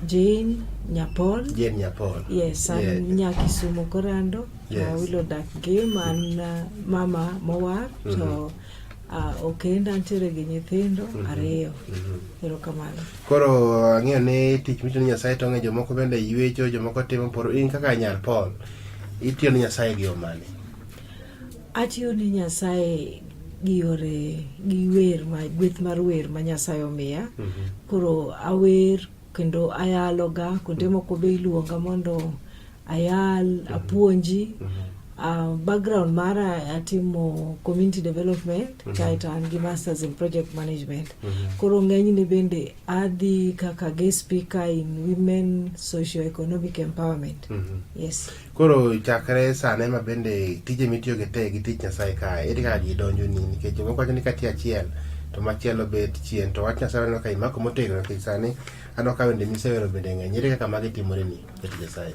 Jane Nyapol. Jane Nyapol. Yes, an yeah. nya Kisumu korando. Yes. Uh, wilo dak gi man uh, mama mowar mm -hmm. to uh, ah, okenda ntiere gi nyithindo mm -hmm. ariyo mm -hmm. erokamano koro ang'eyo ni tich micho ni nyasaye to ng'e jomoko bende ywecho jomoko timo poro in kaka nyar paul itiyo ni nyasaye gi omani Atiyo ne Nyasaye gi yore gi wer ma gweth mar wer ma Nyasaye omiya. Mm -hmm. Koro awer kendo ayaloga kuonde mhm. moko be iluonga mondo ayal, mm -hmm. apuonji. Mm -hmm. Uh, background mara atimo community development mm -hmm. kaeto an gi masters in project management mm -hmm. koro ng'enyne bende adhi kaka guest speaker in women socio economic empowerment mm -hmm. yes Koro chakre sane ma bende tije mitiyo gi te gi tich Nyasaye ka ere kaka gidonjo ni nikech jomoko wacho ni ka tiyo achiel to machielo bet chien to wach Nyasaye waneno ka imako motegno nikech sani aneno ka wende misewero bende ng'eny ere kaka magi timore ni ket Nyasaye.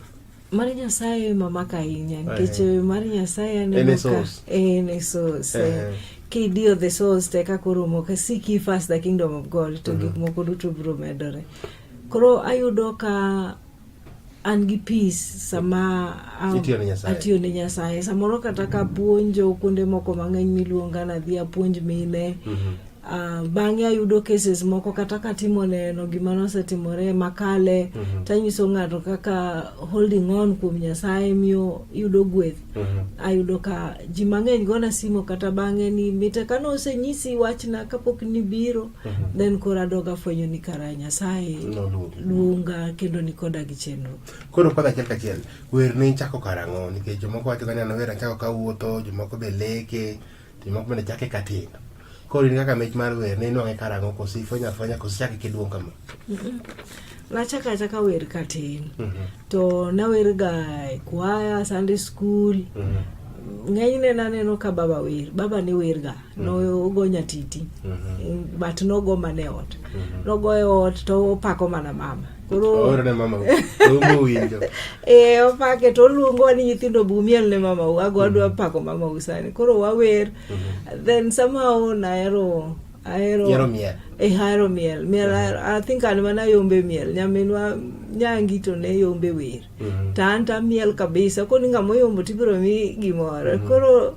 Mar Nyasaye mamaka ahinya nikech eh, mar Nyasaye aneno ka en e source. Eh, eh. Kidiyo the source te kaka oromo ka seek ye first the kingdom of God to mhm. gik moko duto biro medore. Koro ayudo ka an gi peace sama atiyo ne nyasaye samoro kata ka puonjo kuonde moko mang'eny miluonga nadhi apuonj mine mm -hmm. Uh, bang'e ayudo cases moko kata katimo neno gima nosetimore makale mm -hmm. tanyiso ng'ato kaka holding on kuom nyasaye miyo yudo gweth mm -hmm. ayudo ka ji mang'eny gona simo kata bang'e ni mite kane osenyisi wachna kapok nibiro Mhm. then koro adog afwenyo ni kara nyasaye luonga kendo ni koda gi chenro koro kod achiel kachiel wer ne ichako karang'o nikech jomoko wacho gani anawer achako kawuotho jomoko be leke jomoko bende chake katindo koro in kaka mich mar wer ne inwang'e karang'o koso ifwenyo afwenya koso chake kiduong' kama nachako achaka wer katin mhm. to nawerga e kwaya sunday school ng'enyne naneno ka baba wer baba ne werga nogo nyatiti but nogo mana e ot nogo e ot to opako mana mama koro Ooro ne mama romo winjo. e opake to oluongowa ni nyithindo bumiel ne mamau ago adwa pako mamau sani koro wawer then somehow nahero ahero Ihero miel. eh, ahero miel miel ahero- i think an mana yombe miel nyaminwa nyangi to ne yombe wer Mhm. to an tamiel kabisa koni ng'ama oyombo to ibiro mi gimoro koro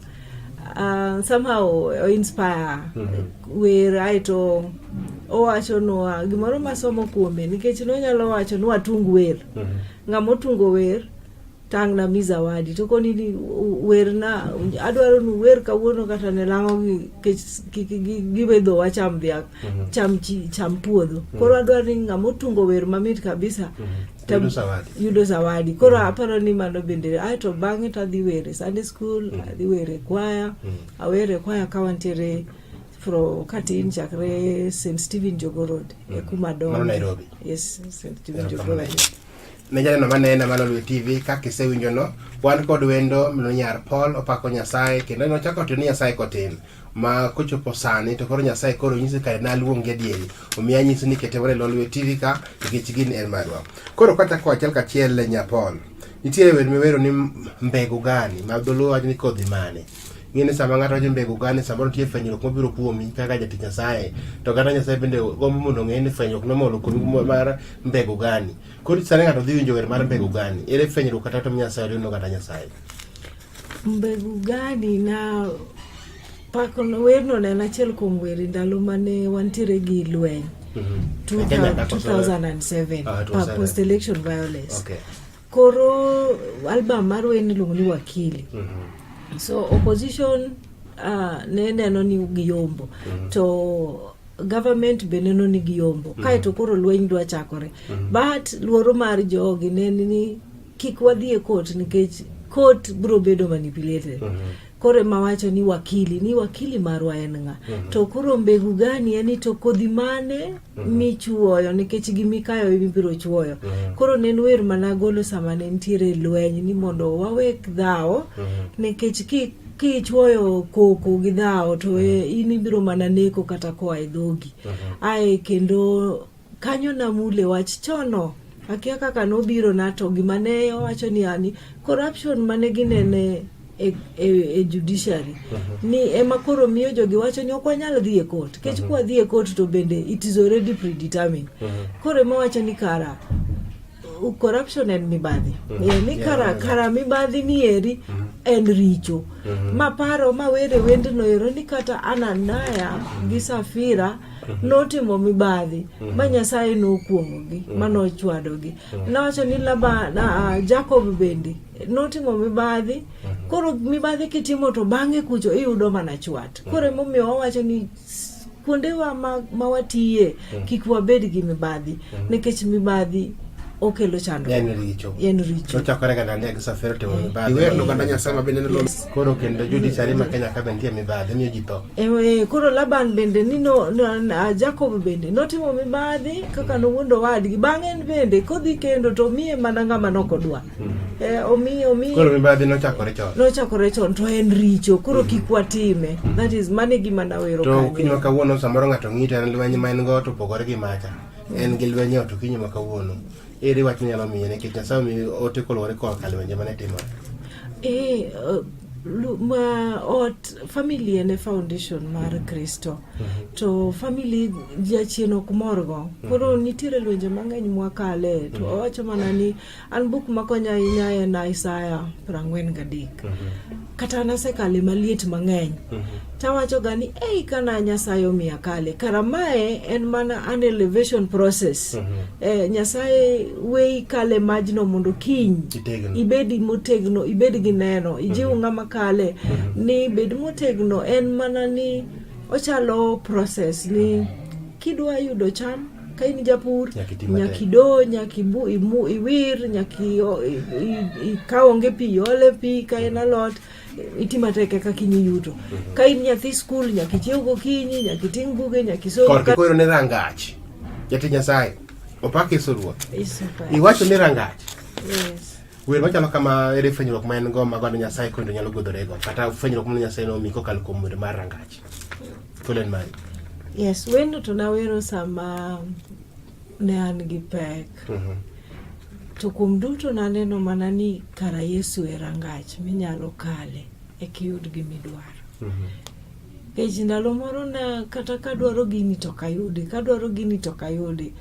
ah, somehow o inspire Mhm. wer aeto owachonwa gimoro masomo kuome nikech nonyalo wacho ni watung wer Mhm. ng'ama otungo wer tangna mi zawadi to koni ni werna adwaro ni wer kawuono kata ne lango gibe dho wacham dhiang mhm. cham chi cham puodho mhm. koro adwaro ni ng'ama otungo wer mamit kabisa mhm. yudo zawadi koro aparo ni mano bende ae to bang'e to adhi were sunday school adhi were kwaya awere kwaya ka wantiere from katin chakre st stephen jogorod e kuma dongo yes st stephen jogorod ne janeno manena malo lwe tv kaka isewinjono wan kod wendo mino nyar paul opako nyasaye kendo nochako tiyo ni nyasaye kotin ma kochopo sani to koro nyasaye koro nyisi kare naluongi adieri omiyo anyisi ni ketemore lo lwe tv ka nikech gini en marwa koro kwachako achiel kachiel le nya paul nitiere wer miwero ni mbegu gani ma dholuo wacho ni kodhi mane ing'e ni sama ng'ato wacho mbegu gani samoro nitie fwenyruok mabiro kuomi kaka jatich nyasaye to kata nyasaye bende gombo mondo ong'e ni fwenyruok nomolo kuomi mar mbegu gani Koro sani ng'ato dhi winjo wer mar mbegu gani? Ere fwenyruok kata tom Nyasaye oriwno kata Nyasaye? Mbegu gani na pako no werno ne en achiel kuom weri ndalo mane wantiere gi lweny. Mm -hmm. 2007 uh, uh, post election violence. Okay. Koro album mar wer niluongo ni Wakili. Mm -hmm. So opposition uh, ne neno ni giyombo. Mm -hmm. To government be neno ni giyombo mm. kaeto koro lweny dwa chakore mm. but luoro mar jogi ne ni kik wadhi e court nikech court biro bedo manipulated mm -hmm koro ema wacho ni wakili ni wakili marwa en ng'a mm -hmm. to koro mbegu gani en ni to kodhi mane mm -hmm. michuoyo nikech gi mikayo ibiro chuoyo mm -hmm. koro ne en wer managolo sama ne nitiere lweny ni mondo wawek dhawo mm -hmm. nikech ki kichuoyo koko gi dhawo to e, in ibiro mana neko kata koa e dhogi ae kendo kanyo namule wach chono akia kaka nobiro na to gima ne owacho ni ani corruption mane ginene e, e, e judiciary ni ema koro miyo jogi wacho ni ok wanyal dhi e court kech kwa dhi e court to bende it is already predetermined koro ema wacho ni kara corruption and mibadhi mm -hmm. ni yeah, kara, yeah, kara mibadhi ni eri mm -hmm. en richo mm -hmm. maparo mawere wendno ero ni kata ananaya mm -hmm. gi safira mm -hmm. Mhm. notimo mibadhi mhm. ma nyasaye nokuomogi mhm. ma nochwadogi nawacho ni laba na, uh, jacob bende notimo mibadhi koro mibadhi kitimo to bang'e kucho iyudo mana chwat koro emomiyo wawacho ni kuondewa ma, ma watiye mm. kik wabed gi mibadhi mm. nikech mibadhi okelo chandruok koro laban bende ni no, no, jacob bende notimo mibadhi kaka nowuondo wadgi bang'e en bende kodhi kendo to miye mana ng'ama nokodwa Eh, omi omi koro mibadhi nochakore chon nochakore chon to en richo koro mhm. kik watime mhm. that is mane gima nawero to kinywa kawuono samoro ng'ato ng'ito en lweny ma en go to opogore gi macha en gi lweny ot kinywa kawuono ere wach nyalo miye nikech nyasaye omi ote koluwore korka lwenje mane timore eh, eh, ma ot family en e foundation mar mhm. kristo to family jachien ok morgo koro nitiere lwenje mang'eny mwakale to owacho mana ni mm -hmm. An buk makonya ahinya en Isaya prang'wen gadek. Mm -hmm. Kata nasekale maliet mang'eny. Mm -hmm. Tawacho ga ni ei kana Nyasaye omiya kale. Kara mae en mana an elevation process. Mm -hmm. eh, Nyasaye weyi kale majno mondo kiny. Itegno. Ibedi motegno, ibed gi neno. Ijiw mm -hmm. ng'ama kale. Mm -hmm. Ni bed motegno en mana ni ochalo process ni mm -hmm. Kidwa yudo cham ka in japur nyaka ido nyaka iwir nyaka ka onge pi iole pi ka en alot iti matek eka kiny iyuto mhm. ka in nyathi skul nyaka ichiew gokinyi nyaka iting' buge nyaka isokoyo ne rangach jati nyasaye opak yesu ruoth iwacho ni rangach wer machalo kama ere fwenyruok ma en go ma god nyasaye kendo nyalo godorego kata fwenyruok ma nyasaye nomi kokalo kuom wer mar rangach Fulani mali. Yes, wendo tunawero sama ne an gi pek. Mm -hmm. To kuom duto naneno mana ni kara Yesu e rangach minyalo kale e kiyud gimidwaro. Mm -hmm. Kech ndalo moro na kata kadwaro gini to kayudi, kadwaro gini to kayudi.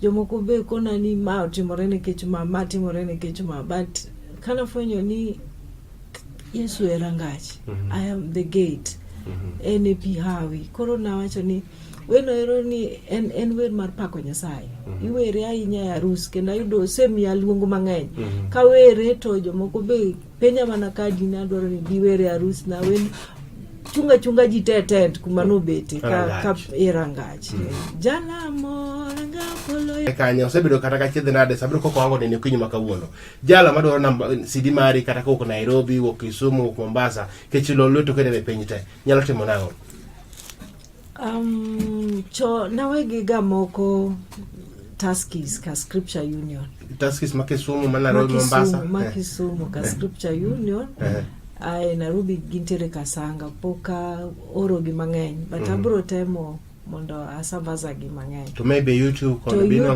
Jomoko be kona ni ma otimore nikech ma, ma timore nikech ma. But kanafwenyo ni Yesu e rangach, mm -hmm. I am the gate. Mm -hmm. En e pi hawi. Koro nawacho ni weno ero ni en, en wer mar pako Nyasaye. Mm -hmm. Iwere ahinya e arus kendo ayudo osemiya luongo mang'eny. Mm -hmm. Ka were to jomoko be penya mana ka di nadwaro ni giwere arus na wen chunga chunga ji te tent kuma nobete ka, ka e rangach. Mm -hmm. Jalamo e kanyo osebedo kata ka chiedhe nade sabedo koko wango nene okinyi ma kawuono jalo madwaro namba CD mari kata kowuok Nairobi, wuok Kisumu, wuok Mombasa, kech lo lweto kene e piny te. Nyalo timo nang'o? Um, cho nawegiga moko Tuskys ka Scripture Union. Tuskys ma Kisumu, ma Nairobi, Mombasa. Ma eh. Kisumu ka eh. Scripture Union. Eh. Ae Nairobi gintiere Kasanga, poka oro gi mang'eny, but mm. abro temo mondo asambaza gi mang'eny. To maybe YouTube kono binwang'o